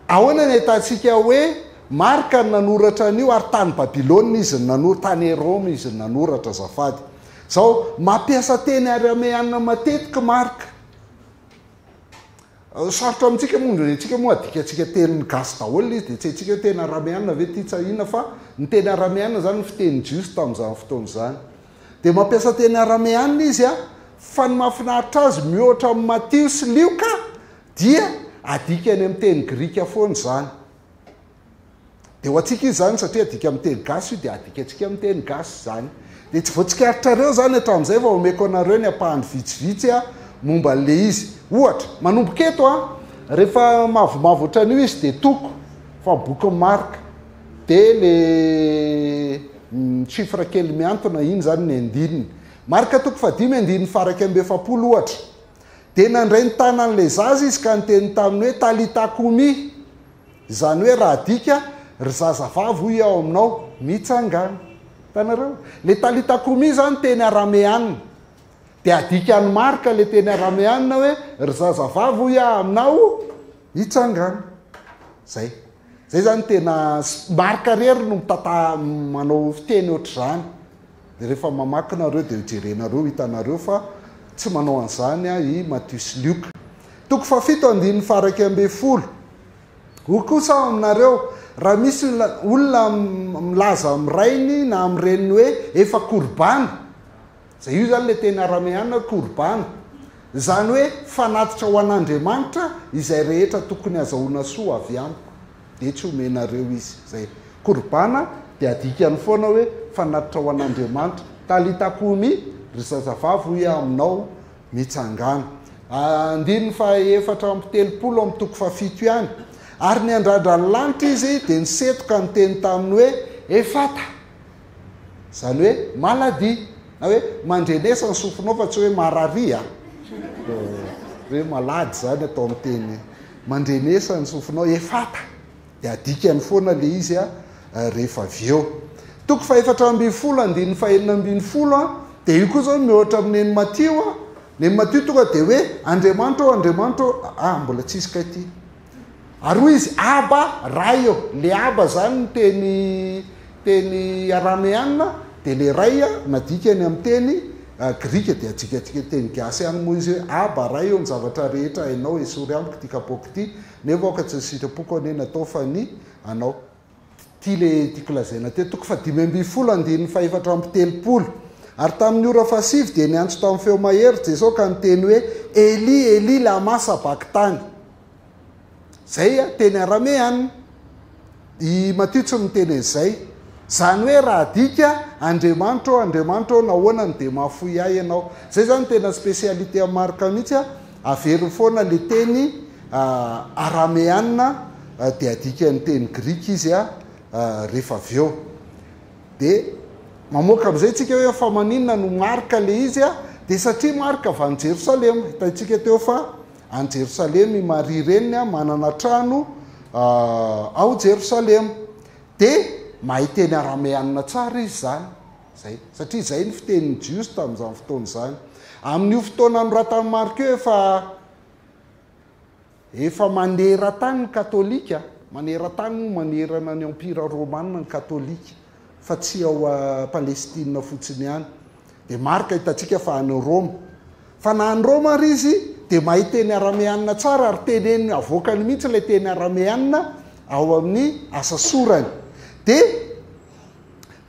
Ahoana ny ahitantsika hoe Marka no nanoratra an'io ary tany Babylona izy no nanoratra, tany Roma izy no nanoratra azafady. Izao, mampiasa teny arameana matetika Marka. Sarotra amintsika moa ny antsika moa adikantsika tenin'ny gasy daholo ilay izy dia tsy haintsika hoe tena arameana ve ity tsa inona fa ny teny arameana izany no fiteny jiosy tamin'izany fotoana izany. Dia mampiasa teny arameana izy fa ny mahafinaritra azy mihoatra amin'i Matio sy Lioka dia adikany amin'ny teny grika foana izany. Dia ho antsika izy izany satria adika amin'ny teny gasy io dia adikantsika amin'ny teny gasy izany. Dia tsy vao tsikaritrareo izany hatramin'izay vao omeko anareo ny ampahany vitsivitsy aho momba an'ilay izy. Ohatra, manomboka eto an, rehefa mavomavo ohatran'io izy dia toko fa ny bokin'i Marka dia ilay chiffre kely mihantona iny izany ny andininy. Marka toko fahadimy andininy faha iraika amby efapolo ohatra. Dia nandray ny tanan'ilay zaza izy ka niteny taminy hoe, Talita kumi! Izany hoe raha adika, ry zazavavy hoy aho aminao, mitsangàna. Hitanareo? Ilay talitha kumi izany teny arameana. Dia adikan'i Marka ilay teny arameana hoe, ry zazavavy hoy aho aminao, mitsangàna. Izay. Izay izany tena, Marka irery no mitantara, manao fiteny ohatr'izany. Rehefa mamaky nareo dia hojerenareo ho hitanareo fa tsy manao an'izany i Matio sy Lioka. Toko fahafito andininy faharaika ambin'ny folo, Hoy kosa aho aminareo, raha misy olona milaza amin'ny rainy na amin'ny reniny hoe, Efa korobana, izay io izany ilay teny arameana hoe korobana, izany hoe fanatitra ho an'Andriamanitra izay rehetra tokony hazahoana soa avy amiko. dia tsy omenareo izy. Izay. Korban dia adikany foana hoe fanatitra ho an'Andriamanitra. Talita kumi, ry zazavavy hoy aho aminao, mitsangàna. Andininy fahaefatra amby telopolo amin'ny toko fahafito ihany. Ary niandrandra ny lanitra izy dia niseto ka niteny taminy hoe, Efata! Izany hoe maladie na hoe mandrenesa ny sofinao fa tsy hoe mararia hoe malady izany atao amin'ny teny mandrenesa ny sofinao efata dia adikany foana le izy a rehefa avy eo toko fahefatra ambin'ny folo andininy fahenina ambin'ny folo a dia io koa izao mihoatra amin'ny eny matio a ny eny matio tonga dia hoe andriamanitra ao andriamanitra ao a mbola tsisy kay ty Ary hoy izy, Abba, Ray ô. Ilay Abba izany ny teny teny arameana, dia ilay Ray a, nadika any amin'ny teny grika, dia adikatsika amin'ny teny gasy ihany moa izy hoe, Abba, Ray ô, ny zavatra rehetra hainao, esory amiko ity kapaoko ity, nefa aoka tsy ny sitrapoko anie no hatao fa ny anao. Ity ilay tiako lazaina teto, toko fahadimy ambin'ny folo andininy fahefatra amby telopolo. Ary tamin'ny ora fahasivy dia niantso tamin'ny feo mahery Jesoa ka niteny hoe, Eli, Eli, lama sabakitany. Izay teny arameana. I Matio tsy miteny an'izay. Izany hoe raha adika, Andriamanitro ô, Andriamanitro ô, nahoana no dia mahafoy ahy ianao? Izay izany tena spécialité an'i Marka mihitsy. Averiny foana le teny arameana de adikan'ny teny grika izy rehefa avy eo. De mamoaka amin'izay tsika hoe fa maninona no Marka le izy? De satria Marka avy any Jerosalema. Hitantsika teo fa any Jerosalema i Maria reniny, manana trano ao Jerosalema. De mahay teny arameana tsara izy zany. Izay. Satria izay ny fitenin'i Jiosy tamin'izany fotoana izany. Amin'io fotoana anoratan'i Marka io efa efa maneran-tany ny Katolika, maneran-tany moa manerana ny Empira Romana ny Katolika fa tsy ao Palestina fotsiny ihany. Dia Marka hitantsika fa any Roma. Fa na any Roma ary izy dia mahay teny arameanina tsara ary teneniny, avoakany mihitsy ilay teny arameanina ao amin'ny asa sorany. Dia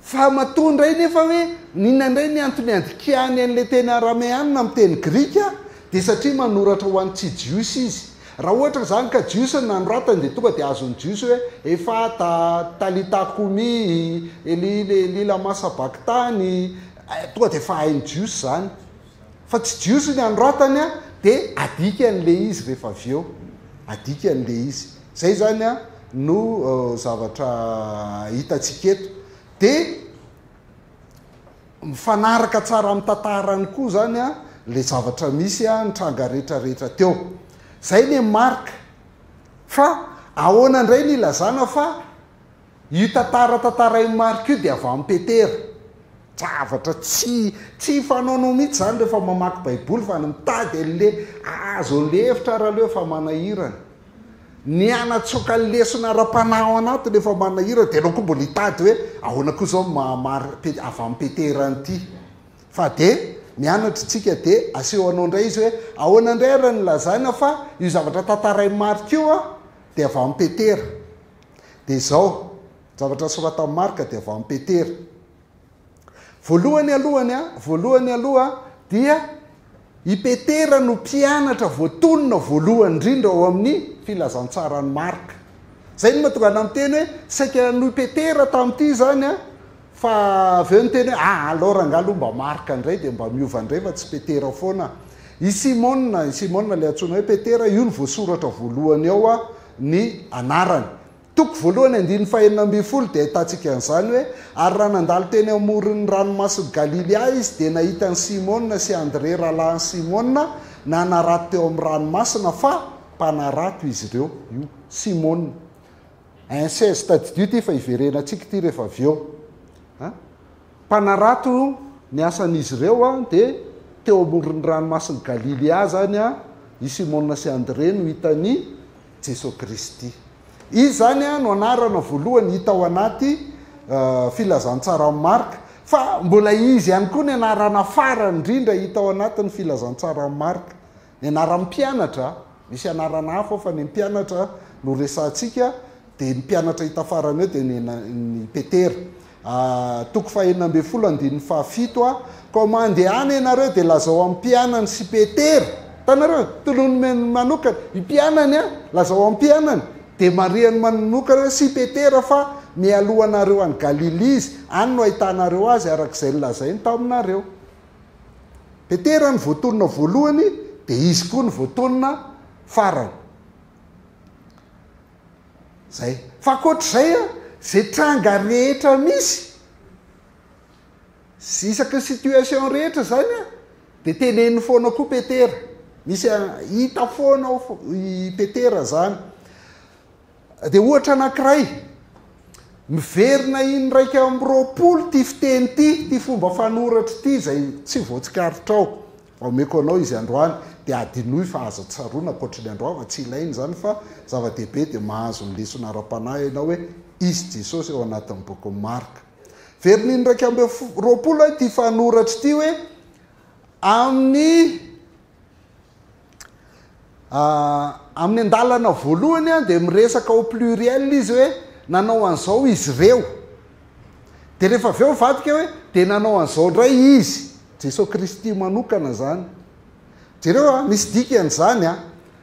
Fa matoa indray nefa hoe n'inona indray ny antony andikihany an'ilay teny arameana amin'ny teny grika dia satria manoratra ho an'ny tsy jiosy izy. Raha ohatra izany ka jiosy no nanoratany dia tonga dia azon'ny jiosy hoe Efatha, Talitha koumi, Eli, Eli lama sabakthani, tonga dia efa hain'ny jiosy izany. Fa tsy jiosy ny anoratany an, dia adikany le izy rehefa avy eo, adikany le izy. Zay zany an no zavatra hitantsika eto. Dia mifanaraka tsara amin'ny tantarany koa zany an le zavatra misy an, ny tranga rehetra rehetra teo. Zay le marika. Fa ahoana indray ny ilazana fa. Io tantara tantarain'i Marc io dia van Peter. Zavatra tsy tsy fanaonao mihitsy izany rehefa mamaky baiboly fa ny mitady an'le azo an'le hevitra ary aleo efa manahirana. Ny hanatsoaka ny lesona ara-panahy ao anatiny efa manahirana dia ianao koa mbola hitady hoe ahoana koa izao ny maha Mar pe a van Peter an'ity. Fa dia mianatra isika dia aseho anao indray izy hoe ahoana indray ary ny lazaina fa io zavatra tantarain'i Marc io dia van Peter. Dia izao, ny zavatra soratan'i Marka dia avy amin'i Petera. Voalohany alohany a, voalohany aloha dia i Petera no mpianatra voatonona voalohany indrindra ao amin'ny filazantsaran'i Marka. Izay no mahatonga anà miteny hoe saika noho i Petera tamin'ity izany a, Fa avy eo niteny hoe, ah alors angaha aloha mba Marc indray dia mba miova indray fa tsy Petera foana. I Simona, i Simona ilay antsoina hoe Petera, io no voasoratra voalohany ao ny anarany. Toko voalohany andininy fahenina ambin'ny folo dia ahitantsika an'izany hoe, Ary raha nandalo teny amoron'ny ranomasin'i Galilia izy dia nahita an'i Simona sy Andrea rahalahin'i Simona nanarato teo amin'ny ranomasina, fa mpanarato izy ireo. Io Simona. Un seize tadidio ity fa iverenantsika ity rehefa avy eo a! Mpanarato ny asan'izy ireo a! dia teo amoron'ny ranomasin'i Galilia zany a! i Simona sy Andrea no hitan'i Jesoa Kristy. Izy izany a! no anarana voalohany hita ao anaty filazantsaran'i Marka, fa mbola izy ihany koa ny anarana farany indrindra hita ao anatin'ny filazantsaran'i Marka. Ny anaran'ny mpianatra, misy anarana hafa ao fa ny mpianatra no resahantsika, dia ny mpianatra hita farany eo dia ny i Petera. Toko fahenina ambin'ny folo andininy fahafito a, Koa mandehana ianareo dia lazao amin'ny mpianany sy Petera, hitanareo, tolon'ny manokana, ny mpianany a, lazao amin'ny mpianany, dia marihany manokana hoe sy Petera fa mialoha anareo any Galilia izy, any no hahitanareo azy, araka izay nolazainy taminareo. Petera no voatonona voalohany dia izy koa no voatonona farany. Zay. Fa ankoatr'izay a, ze tranga rehetra misy, sy isaky ny situation rehetra zany a, dia teneniny foana koa Petera. Misy hita foana ao i Petera zany. Dia ohatra anankiray, miverina in'iraika amby roapolo ity fiteny ity, ity fomba fanoratra ity izay tsy voatsikaritrao, omeko anao izy androany, dia adinoy fa aza tsaroana ankoatry ny androava, tsy ilaina izany fa zava-dehibe dia mahazo ny lesona ara-panahy ianao hoe izy Jesosy ao anatin'ny bokin'i Marka. Verina in'iraika amby roapolo ity fanoratra ity hoe amin'ny Amin'ny andalana voalohany dia miresaka au pluriel izy hoe nanao an'izao izy ireo. Dia rehefa avy eo mivadika hoe dia nanao an'izao indray izy. Jesoa Kristy manokana izany. Jereo a, misy dikany izany a.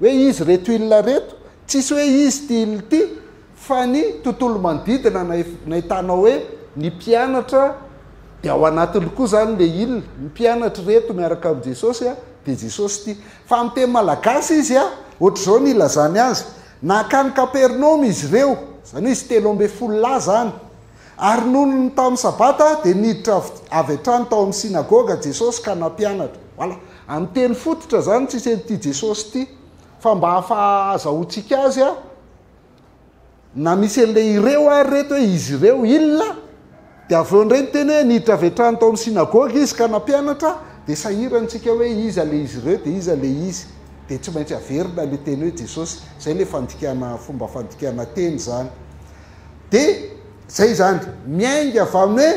Hoe izy reto ilona reto, tsisy hoe izy ty ilona ty fa ny tontolo manodidina nahitanao hoe ny mpianatra dia ao anatiny koa zany le ilona, ny mpianatry reto miaraka am Jesosy a, de Jesosy ty. Fa am teny malagasy izy a, otrzao ny ilazany azy, nankany kapernaomy izy reo, zany hoe izy telo ambe folo lahy zany, Ary nony ny tamin'ny Sabata dia niditra avy hatrany tao amin'ny synagoga Jesosy ka nampianatra. Voilà. Amin'ny teny fototra izany tsisy an'ity Jesosy ity. Fa mba hahazahoantsika azy a, na misy an'ilay ireo ary ireto hoe izy ireo, il, dia avy eo indray ny teny hoe niditra avy hatrany tao amin'ny synagoga izy ka nampianatra, dia sahirana isika hoe iza ilay izy ireo dia iza ilay izy. Dia tsy maintsy averina ilay teny hoe Jesosy. Izay ilay fandikana, fomba fandikana teny izany. de zay izany miainga avy amin'ny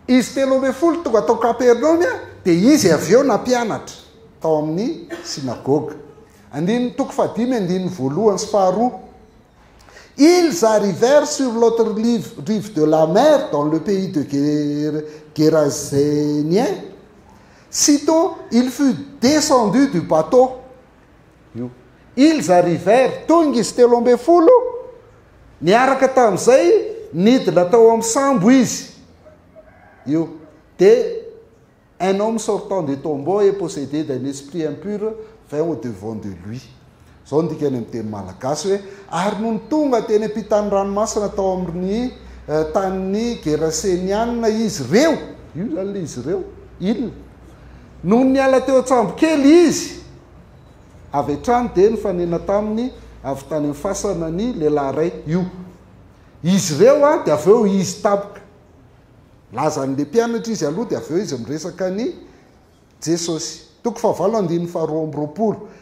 hoe izy telo ambin'ny folo tonga tao Kapernaomy a de izy avy eo nampianatra tao amin'ny synagoga andininy toko fahadimy andininy voalohany sy faharoa Ils arrivèrent sur l'autre rive de la mer dans le pays de Ger Gérasénien. Sitôt, il fut descendu du bateau. io. Ils arrivèrent, tonga izy telo ambin'ny folo, niaraka tamin'izay nidina tao amin'ny sambo izy io. Dia un homme sortant des tombeaux et possédé d'un esprit impur vint au devant de lui. Izao no dikany amin'ny teny malagasy hoe, ary nony tonga teny am-pitan'ny ranomasina tao amin'ny tanin'ny Gerasenianina izy ireo, io izany ilay izy ireo, ils, Nony niala teo an-tsambo kely izy avy hatrany dia nifanena taminy avy tany amin'ny fasana ny lehilahy iray io. Izy ireo dia avy eo izy tampoka. Nilaza an'ilay mpianatra izy aloha dia avy eo izy miresaka an'i Jesosy. Toko fahavalo andininy faharoa amby roapolo.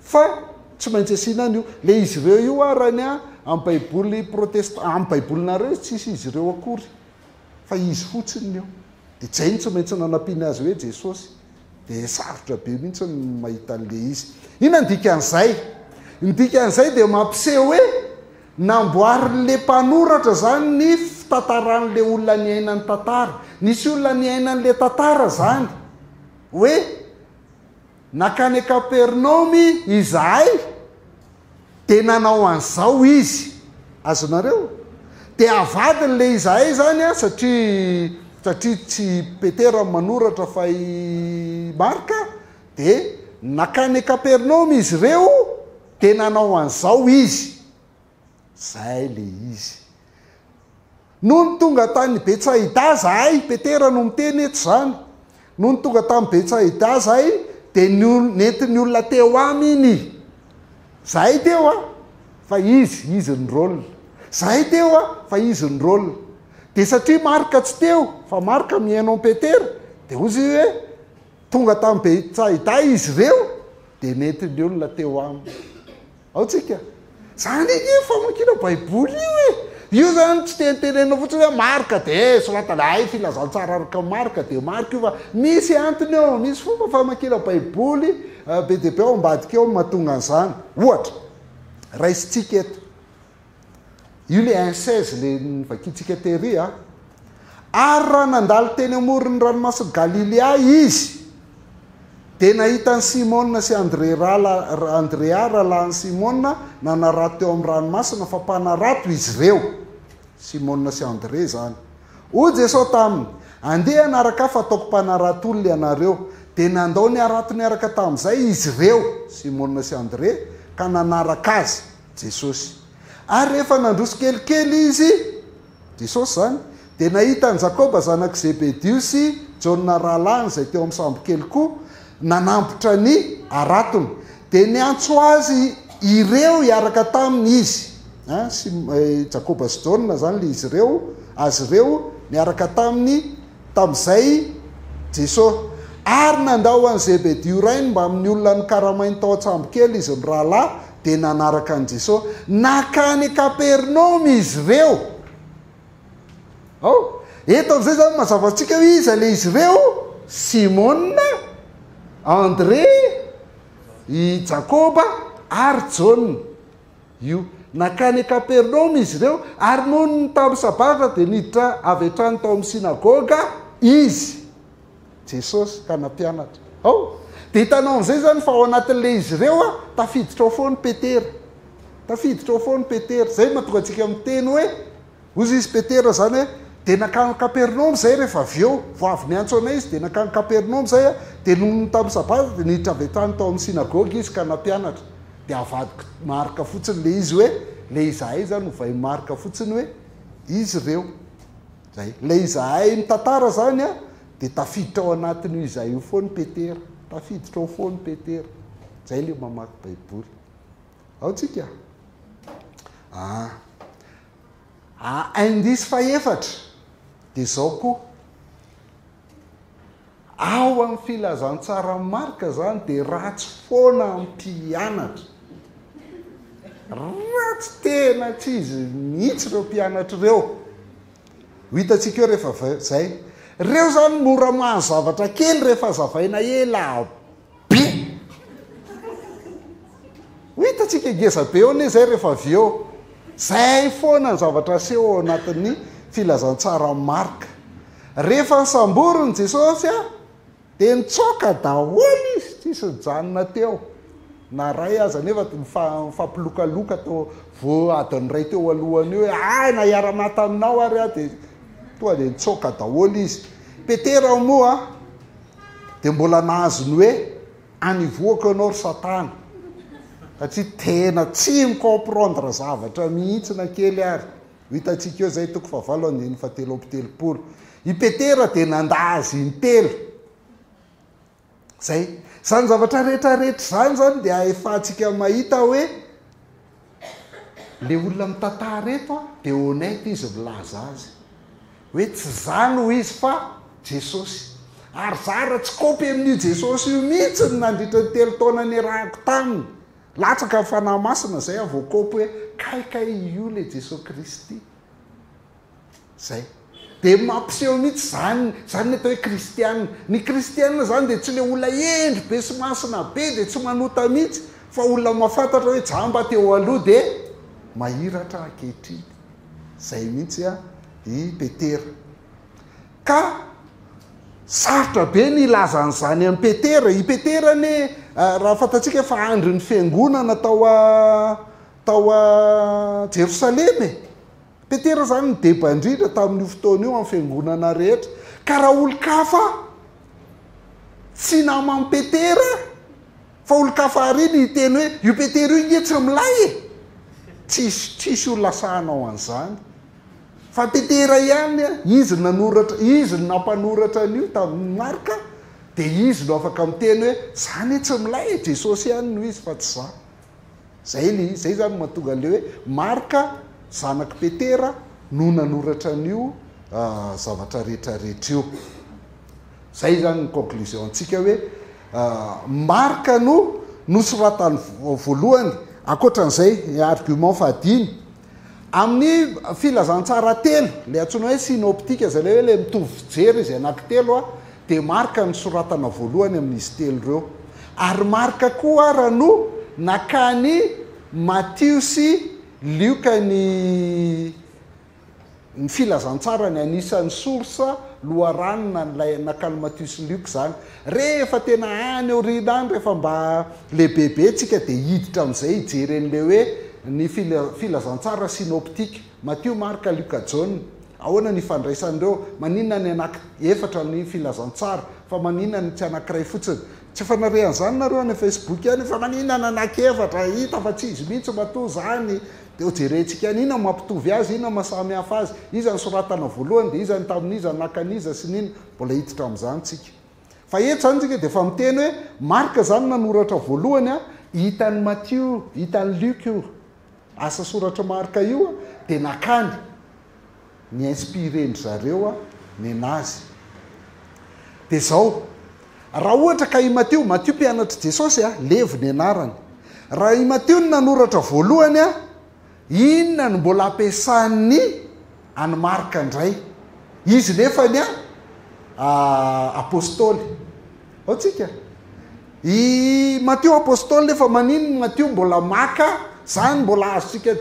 Fa tsy maintsy asiana an'io. Ilay izy ireo io ary any amin'ny baiboly protestant, amin'ny baibolinareo izy tsisy izy ireo akory, fa izy fotsiny ny eo. Dia zay no tsy maintsy nanampiana azy hoe Jesosy. Dia sarotra be mihitsy ny mahita an'ilay izy. Inona ny dikan'izay? Ny dikan'izay dia mampiseho hoe namboarin'ilay mpanoratra izany ny fitantaran'ilay olona niaina ny tantara. Nisy olona niaina an'ilay tantara izany hoe Nankany Kapernaomy izahay, dia nanao an'izao izy. Azonareo? Dia avadiny le izahay izany an, satria, satria tsy i Petera no manoratra fa i Marka, dia nankany Kapernaomy izy ireo, dia nanao an'izao izy. Zay le izy. Nony tonga tany Betsaida zahay, Petera no miteny eto zany, nony tonga tany Betsaida zahay de nentin'ny olona teo aminy. Zahay teo a, fa izy, izy ny rôle. Zahay teo a, fa izy ny rôle. De satria Marka tsy teo, fa Marka mihaino an'i Petera, de hozy izy hoe, tonga tany Betsaida izy reo, de nentin'ny olona teo aminy. Ao tsika. Zany anie famakiana baiboly io e! Io zany tsy tentenenina fotsiny hoe marka de sorata le hay filazantsara araka marka de marka io fa misy antony eo, misy fomba famakiana baiboly be dia be ao ambadika eo mahatonga an'izany. Ohatra, raisintsika eto. Io le incèse le novakintsika tery a. Ary raha nandalo teny amoron'ny ranomasin'i Galilea izy dia nahita an'i Simona sy Andrea rala Andrea rahalahin'i Simona nanarato teo amin'ny ranomasina fa mpanarato izy ireo. Simona sy Andrea izany. Hoy Jesoa taminy, Andeha hanaraka Ahy fa hataoko mpanarato olona ianareo. Dia nandao niarato niaraka tamin'izay izy ireo, Simona sy Andrea, ka nanaraka Azy. Jesosy. Ary rehefa nandroso kelikely Izy, Jesosy izany, dia nahita an'i Jakoba zanak'i Zebedio sy Jaona rahalahiny izay teo amin'ny sambokely koa nanambotra ny haratony. Dia niantso azy ireo hiaraka taminy Izy. Jakoba sy Jaona izany ilay izy ireo, azy ireo niaraka taminy. Tamin'izay Jesosy. Ary nandao an'i Zebedio rainy mbamin'ny olona nokaramainy tao an-tsambokely izy mirahalahy, dia nanaraka an'i Jesosy. Nankany Kapernaomy izy ireo. Ao? Eto amin'izay izany mazava antsika hoe iza ilay izy ireo? Simona, Andrea, i Jakoba ary Jaona. Io. Nankany Kapernaomy izy ireo, ary nony tamin'ny Sabata dia niditra avy hatrany tao amin'ny synagoga Izy, Jesosy, ka nampianatra. Ao. Dia hitanao amin'izay izany fa ao anatin'ilay izy ireo a, tafiditra ao foana i Petera. Tafiditra ao foana i Petera. Izay no mahatonga antsika miteny hoe, Hozy izy Petera izany hoe, dia nankany Kapernaomy izahay rehefa avy eo, vao avy niantso anay izy dia nankany Kapernaomy izahay aho, dia nony tamin'ny sabata dia niditra avy hatrany tao amin'ny synagoga izy ka nampianatra, dia avadiko Marka fotsiny ilay izy hoe, ilay izahay izany ovainy Marka fotsiny hoe, izy ireo. Izay. Ilay izahay mitantara izany an, dia tafiditra ao anatin'io izahay io foana i Petera. Tafiditra ao foana i Petera. Izay ilay mamaky Baiboly. Ao tsika ah. Ah indice fahefatra dia zao koa. Ao amin'ny filazantsaran'i Marka zany dia ratsy foana ampianatra. Ratsy tena tsy izy mihitsy ireo mpianatra ireo. Ho hitantsika eo rehefa zay. Reo zany mora mahazo zavatra kely rehefa azavaina ela. be. Ho hitantsika ngeza be eo anie izay rehefa avy eo. Izay foana ny zavatra aseho ao anatin'ny filazantsaran'i Marka. Rehefa nosamborin'i Jesosy dia nitsoaka daholo izy, tsy nisy nijanona teo na iray aza, nefa nifampilokaloka teo vo adiny iray teo alohany hoe hay na hiara-maty aminao ary aho dia tonga dia nitsoaka daholo izy. Petera moa dia mbola nahazo ny hoe anivoako ianao ry satana satria tena tsy mi-comprendre zavatra mihitsy na kely ary ho hitantsika eo izay toko fahavalo andininy fahatelo amby telopolo i petera dia nanda azy intelo zay izany zavatra rehetra rehetra izany izany dia ahefantsika mahita hoe Le olona mitantara eto a de honnête izy milaza azy hoe tsy zany hoy izy fa Jesosy. Ary za ra tsy kopy amin'io Jesosy io mihitsy ny nandritra ny telo taona niarahako taminy, latsaka ny fanahy masina zay aho vao kopy hoe kay kay io le Jesoa Kristy. Zay. Dia mampiseho mihitsy izany, izany ny atao hoe kristiana. Ny kristiana izany dia tsy ilay olona hendry be sy masina be dia tsy manota mihitsy, fa olona mahafantatra hoe jamba teo aloha dia mahiratra ankehitriny. Izay mihitsy i Petera. Ka sarotra be ny hilaza an'izany an'i Petera. I Petera anie, raha fantatsika fa andrin'ny fiangonana tao tao Jerosalema e. Petera izany no deba indrindra tamin'io fotoana io amin'ny fiangonana rehetra. Ka raha olon-kafa tsy naman'i Petera, fa olon-kafa àry no hiteny hoe, io Petera io nge tsy milay e! Tsisy, tsisy ho lasa hanao an'izany. Fa Petera ihany, izy no nanoratra, izy no nampanoratra an'io tamin'i Marka, dia izy no afaka miteny hoe, izany e, tsy milay e, Jesosy ihany no izy fa tsy izaho. Zay le izy, zay zany mahatonga an'le hoe Marka zanak'i Petera no nanoratra an'io zavatra rehetra rehetra io. Zay zany ny conclusion antsika hoe Marka no nosoratany voalohany, ankoatran'izay argument fahadimy, Amin'ny filazantsara telo, ilay antsoina hoe synoptika, izay ilay hoe ilay mitovy fijery izy anankitelo, dia marika ny soratana voalohany amin'izy telo ireo. Ary marika koa ara no nakan'i Matio sy Lioka ny. Ny filazantsarany anisan'ny source loharanona an'ilay Nacalmatus Luke izany. Rehefa tena any aoriana any, rehefa mba lehibebe tsika dia hiditra amin'izay hijery an'ilay hoe ny filazantsara synoptique, Matio, Marka, Luka, Jaona. Ahoana ny ifandraisan'ireo? Maninona ny anaky efatra ny filazantsara? Fa maninona ny tsy anankiray fotsiny? Tsy efa nare an'izany nareo any facebook any fa manina nanakevatra hita fa tsy izy mihitsy matoa zany de ho jerentsika any ina mampitovy azy ina masamihafa azy iza nisoratana voalohany de iza ny tamin'iza naka an'iza sy nina mbola hiditra am'zany tsika fa eto zany tsika de efa miteny hoe marc zany nanoratra voalohany a hitan'i matio hitan'i luc io Asa soratr'i Marka io dia nakany, ni-inspirer-ndry zareo ny Nazy. Dia izao, raha ohatra ka i Matio, Matio mpianatr'i Jesosy, Levy ny anarany, raha i Matio no nanoratra voalohany, inona no mbola ampiasan'ny. An'i Marka indray. Izy nefa ny Apostoly. Ao tsika. I Matio Apostoly nefa manin ny Matio mbola maka zany mbola azontsika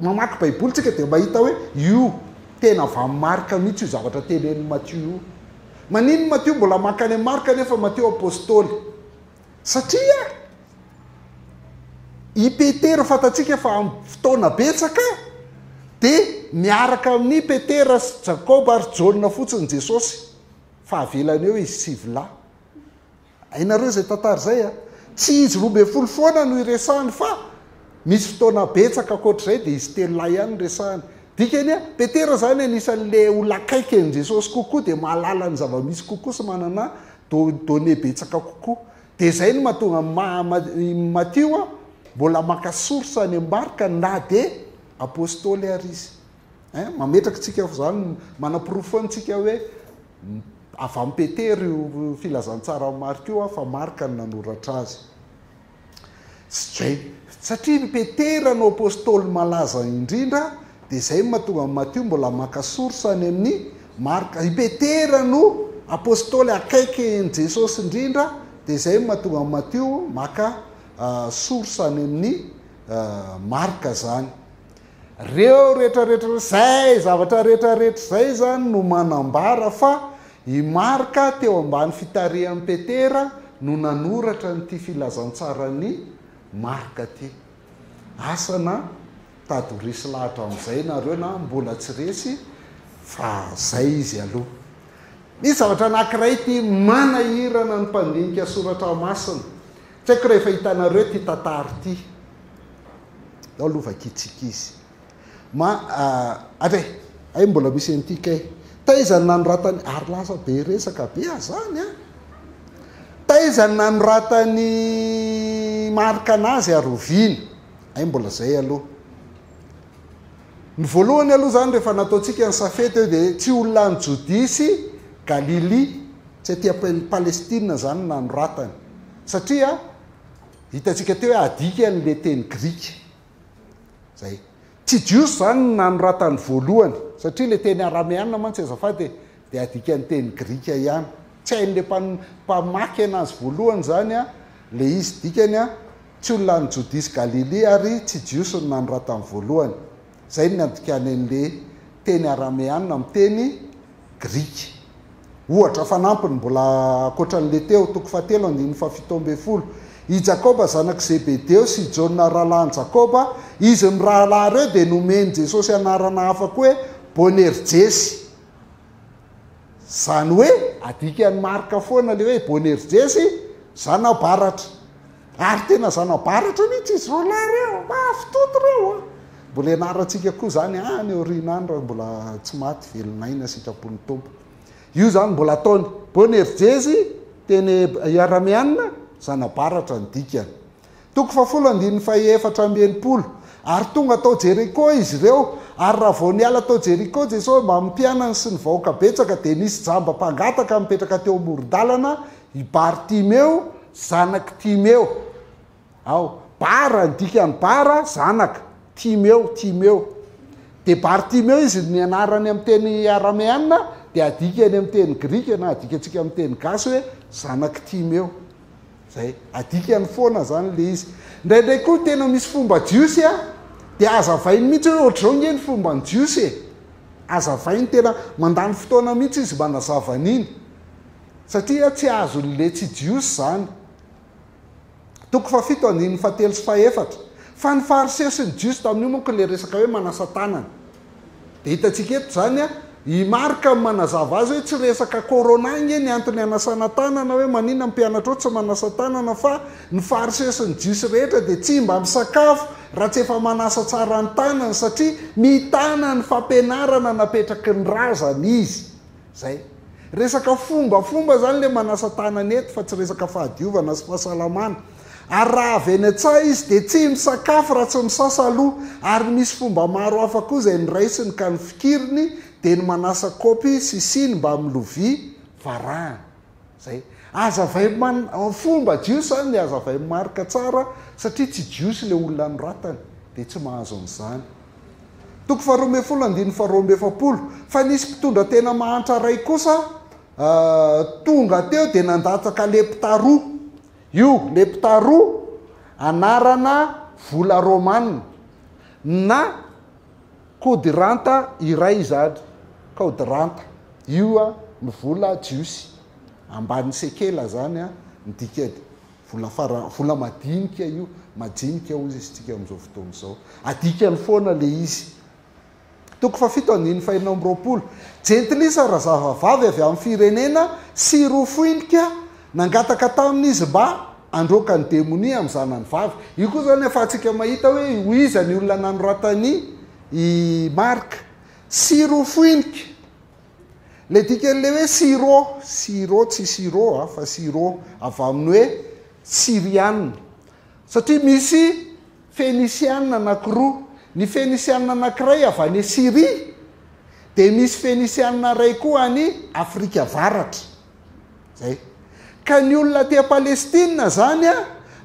mamaky Baiboly tsika dia mahita hoe io tena avy amin'i Marka mihitsy io zavatra tenenin'i Matio io. Manin ny Matio mbola maka any amin'i Marka nefa Matio Apostoly. satria i Petera fantatsika fa amin'ny fotoana betsaka dia miaraka amin'i Petera sy Jakoba ary Jaona fotsiny Jesosy fa avelany eo izy sivy lahy. Hainareo izay tantara izay a? Tsy izy roa ambin'ny folo foana no iresahany fa misy fotoana betsaka ankoatr'izay dia izy telo lahy ihany no resahany. Dikany a, Petera izany anisan'ilay olona akaiky an'i Jesosy kokoa dia mahalala ny zava-misy kokoa sy manana don donner betsaka kokoa dia zay no mahatonga ny maha Matio a mbola maka source any ambarika na dia apostoly ary izy ein mametraka antsika fa zany manaporofo antsika hoe avy amin'i Petera io filazantsara an'i Marc io a fa Marc no nanoratra azy. Tsy zay, satria ny Petera no apostoly malaza indrindra, dia zay no mahatonga an'i Matio mbola maka source any amin'i Marka. I Petera no apostoly akaiky an'i Jesosy indrindra, dia zay no mahatonga an'i Matio maka source any amin'i Marka zany. Reo rehetra rehetra zay zavatra rehetra rehetra zay zany no manambara fa i Marc teo ambany fitarihan'i Petera no nanoratra an'ity filazantsaran'i Marc ty. Asa na tady resy lahatra amizay nareo na mbola tsy resy fa zay izy aloha. Misy zavatra anakiray ity manahirana ny mpandinika soratra masina. Tsy haiko raha efa hitanareo ity tantara ity. Ao aloha vakiantsika izy. Ma, ah, avy ai, ai mbola misy an'ity kay. Taiza ny nanoratany, ary lasa be resaka be ah zany an. Taiza ny nanoratany marika anazy ary oviana. Hay mbola zay aloha. Ny voalohany aloha zany rehefa nataontsika ny safety eo dia tsy olona any Jodia sy Galilia, tsy aty am-Palestina zany nanoratany. Satria Hitantsika teo hoe adika an'ilay teny grika izay. Tsy Jiosy izany no nanoratany voalohany, satria ilay teny arameana mantsy azafady e, dia adika ny teny grika ihany. Tsy hain'ilay mpan- mpamaky anazy voalohany izany an, ilay izy dikany an, tsy olona any Jodia sy Galilia ary tsy Jiosy no nanoratany voalohany. Izay no niantonkany an'ilay teny arameana amin'ny teny grika. Ohatra fanampiny mbola ankoatra an'ilay teo, toko fahatelo andininy fahafito ambin'ny folo, I Jakoba zanak'i Zebedeo sy i Jaona rahalahin'i Jakoba, izy mirahalahy ireo dia nomen'i Jesosy anarana hafa koa hoe Boanerjesy. Izany hoe adikan'i Marka foana ilay hoe Boanerjesy, zanabbaratra. Ary tena zanabaratra mihitsy izy roalahy ireo, mahafintoto ireo a! Mbola hianarantsika koa izany any aoriana any raha mbola tsy maty, velon'aina sitrapon'ny Tompo. Io izany mbola ataony. Boanerjezy, teny arameanina, zanabaratra ny dikany. Toko fahafolo andininy fahefatra amby enimpolo, Ary tonga tao Jeriko izy ireo, ary raha vao niala tao Jeriko Jesosy mbamin'ny mpianany sy ny vahoaka betsaka, dia nisy jamba mpangataka nipetraka teo amoron-dalana, i Bartimeo, Zanak'i Timeo aho. Bara, ny dikan'ny bara, zanaka. Timeo, Timeo. Dia Bartimeo izy ny anarany amin'ny teny arameana, dia adikany amin'ny teny grika, na adikantsika amin'ny teny gasy hoe zanak'i Timeo. Izay. Adikany foana izany ilay izy. Indraindray koa tena misy fomba jiosy a, dia hazavainy mihitsy hoe ohatr'izao ange ny fomban'ny jiosy e. Hazavainy tena, mandany fotoana mihitsy izy manazava an'iny. Satria tsy azon'le tsy jiosy zany. Toko fahafito andininy fahatelo sy fahefatra. Fa ny fariseo sy ny jiosy tamin'io manko le resaka hoe manasa tanana. De hitantsika eto zany a, i Marc no manazava azy hoe tsy resaka corona nge ny antony anasana tanana hoe manina ny mpianatrao tsy manasa tanana fa ny fariseo sy ny jiosy rehetra de tsy mba misakafo raha tsy efa manasa tsara ny tanany satria mitana ny fampianarana napetraky ny razana izy. Zay. Resaka fombafomba zany le manasa tanana eto fa tsy resaka fahadiovana sy fahasalamana. Ary raha avy eny an-tsaha izy dia tsy misakafo raha tsy misasa aloha. Ary misy fomba maro hafa koa izay noraisiny ka ny fikiriny dia ny manasa kaopy sy siny mbamin'ny lovia varahana. Zay. Azavay man fomba jiosy zany azavay marika tsara satria tsy jiosy le olona anoratany de tsy mahazo an'zany. Toko faharoa ambin'ny folo andininy faharoa amby efapolo. Fa nisy mpitondra tena mahantra ray kosa tonga teo de nandatsaka lepta roa. Io lepta roa anarana vola romana na. Kodiranta iray izany, Kaodiranta, io no vola jiosy, ambanin'ny sekela izany ny dikany, vola fara, vola madinika io, majinika hoy isika amin'izao fotoana izao. Adikany foana ilay izy. Toko fahafito andininy fahenina amby roapolo, Jentilisa razahavavy avy amin'ny firenena sy roa foinika Nangataka taminy izy mba handroaka ny demonia amin'ny zanany vavy. Io koa izany ahafahantsika mahita hoe ho iza ny olona nanoratan'i Marka. Syrofoinike. Ilay dikan'ilay hoe Syro, Syro, tsy Siro fa Syro, avy amin'ny hoe Syriana. Satria misy Fenisiana anankiroa. Ny Fenisiana anankiray avy any Syria, dia misy Fenisiana iray koa any Afrika Avaratra. Zay. Ka ny olona aty Palestina zany a,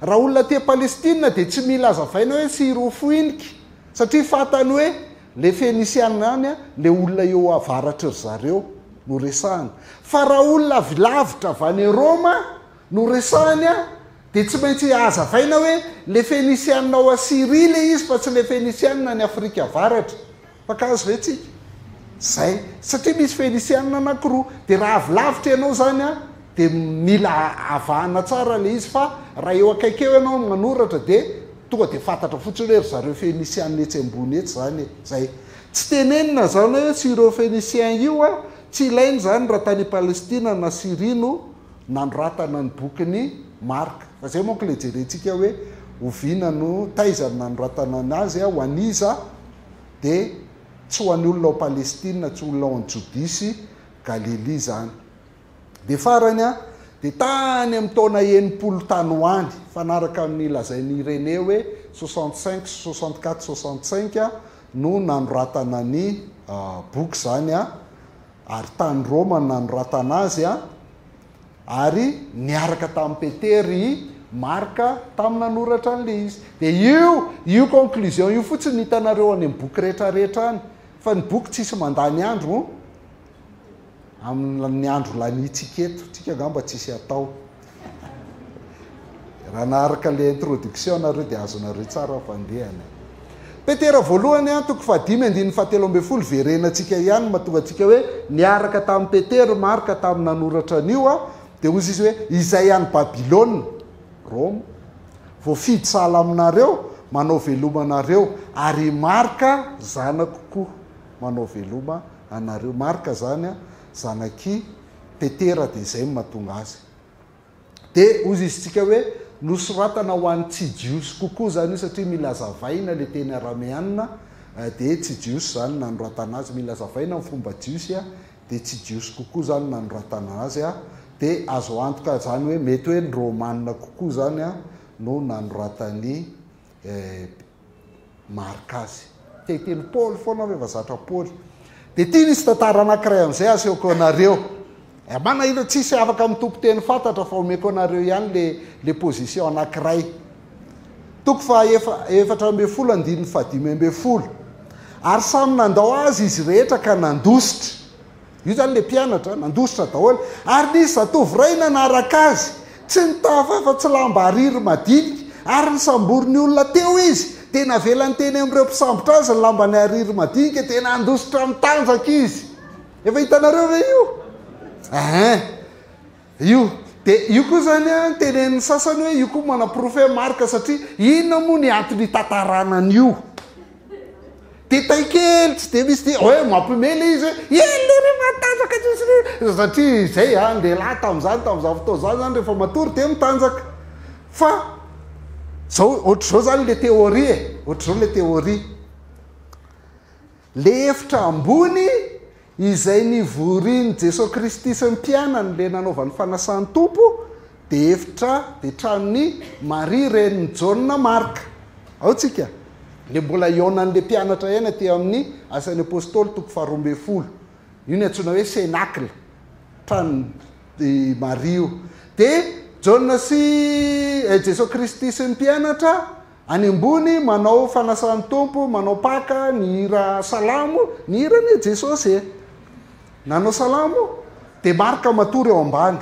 raha olona aty Palestina dia tsy mila azavaina hoe tsy hirofoiniky satria fantany hoe le Fenisiana any a, le olona eo avaratry ry zareo no resahana. Fa raha olona avy lavitra avy any Roma no resahany a, dia tsy maintsy azavaina hoe le Fenisiana ao Syria le izy fa tsy le Fenisiana any Afrika Avaratra. Mpakaazo ve tsika? Zay. Satria misy Fenisiana anakiroa. Dia raha avy lavitra ianao izany an, dia mila avahana tsara ilay izy, fa raha eo akaiky eo ianao no manoratra dia tonga dia fantatra fotsiny hoe ry zareo Fenisiana etsy ambony etsy izany e. Zay. Tsy tenenina izany hoe tsy ireo Fenisian io an, tsy ilaina izany raha tany Palestina na Syria no nanoratana ny bokin'i Marka. Fa izay manko ilay jerentsika hoe oviana no, taiza no nanoratana an azy an, ho an'iza dia tsy ho an'ny olona ao Palestina, tsy olona ao an'i Jodia sy Galilia izany. Dia farany an, dia tany amin'ny taona enimpolo tany ho any, mifanaraka amin'ny lazain'i Irénée hoe soixante cinq sy soixante quatre soixante cinq no nanoratana ny boky izany an, ary tany Roma no nanoratana azy an, Ary niaraka tamin'i Petera i Marka tamin'ny nanoratra an'ilay izy. Dia io, io conclusion io fotsiny no hitanareo any amin'ny boky rehetrarehetra any. Fa ny boky tsisy mandany andro amin'ny andro laniantsika eto. Tsika angamba tsisy atao. Raha naharaka ilay introduction nareo dia azonareo tsara fandehana e. Petera voalohany a, toko fahadimy andininy fahatelo ambin'ny folo verena antsika ihany mahatonga antsika hoe niaraka tamin'i Petera i Marka tamin'ny nanoratra an'io a, dia hozy izy hoe izay any Babylona, Roma, voafidy sahala aminareo manao veloma anareo, ary i Marka zanako koa manao veloma anareo. Marka izany a, zanak'i Petera dia izay no mahatonga azy. Dia hozizintsika hoe nosoratana ho an'ny tsy Jiosy kokoa izany io satria mila azavaina ilay teny arameana, dia tsy Jiosy izany no nanoratana azy. Mila azavaina ny fomba Jiosy, dia tsy Jiosy kokoa izany no nanoratana azy. Dia azo antoka izany hoe mety hoe ny Romana kokoa izany no nanoratan'i Marc azy. Te hiteny Paoly foana aho rehefa zatra Paoly. Dia ity misy tantara anankiray an'izay asehoko anareo. Eh, manahirana, tsisy afaka mitoko teny fantatra fa omeko anareo ihany le, le position anankiray. Toko fahaefa, efatra ambin'ny folo andininy fahadimy ambin'ny folo. Ary samy nandao azy izy rehetra ka nandositra. Io zany le mpianatra nandositra daholo ary nisy zatovo iray nanaraka azy, tsy nitafy afa tsy lamba ariry madinika ary nisamborin'ny olona teo izy dia navelany teny amin'ireo mpisambotra azy ny lambany ariry madinika dia nandositra nitanjaka izy. Efa hitanareo ve io? Eeh. Io. Dia io koa izany an, tenenin'ny sasany hoe io koa manaporofo hoe marika satria inona moa ny antony hitantarana an'io? Dia tay kely tsy dia misy dia hoe mampiomehy ilay izy hoe eny ilay irery matanjaka tsy misy ry satria izay an, dia lahy tamin'izany tamin'izany fotoana izany izany rehefa matory dia mitanjaka. Fa izao ohatr'izao izany ilay teoria e, ohatr'izao ilay teoria. Ilay efitra ambony izay nivorian'i Jesoa Kristy sy ny mpianany ilay nanaovany fanasan'ny Tompo dia efitra dia tranon'i Maria renin'i Jaona Marka. Ao tsika. Ilay mbola hihaonan'ilay mpianatra eny aty amin'ny Asan'ny Apostoly toko faharoa ambin'ny folo. Io ny antsoina hoe Cénacle. Tranon'i Maria io. Dia Jaona sy eh, Jesoa Kristy sy ny mpianatra Any ambony manao fanasan'ny Tompo manao paka ny hira salamo ny hira anie Jesosy e! Nanao salamo dia Marc matory ao ambany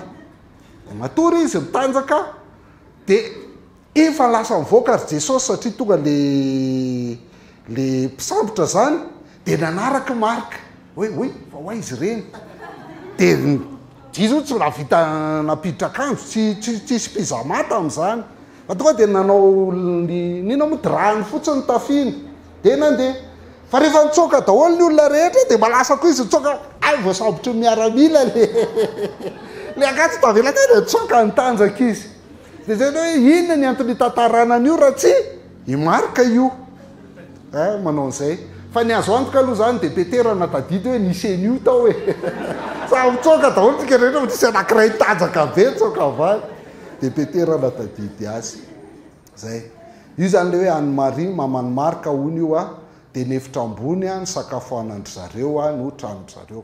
dia matory izy mitanjaka dia efa lasa mivoaka ry Jesosy satria tonga le le mpisambotra zany dia nanaraka i Marc Oe oe fa ho aiza ireny? Dia ny jiro io tsy nahavita nampiditra akanjo, tsy tsy tsisy pyjama tamin'izany. Fa tonga dia nanao ny n'inona moa drap-ny fotsiny ny tafiny dia nandeha. Fa rehefa nitsoaka daholo ny olona rehetra dia mba lasa koa izy nitsoaka, hay vao sabotry ny miaramila ilay ilay akanjo tsy tavela teo dia nitsoaka nitanjaka izy. Dia izay hoe inona ny antony hitantarana an'io raha tsy i Marc io. eh, manao an'izay fa ny azo antoka aloha zany de petera na tadidy hoe ny cenu tao e samy mitsoaka daholo tsika rehetra fa tsisy anakiray tanjaka be mitsoaka avaly de petera na tadidy azy zay io zany le hoe an'ny marie mamany marka ony io a de nefitra ambony a ny sakafo anandry zareo a no tranondry zareo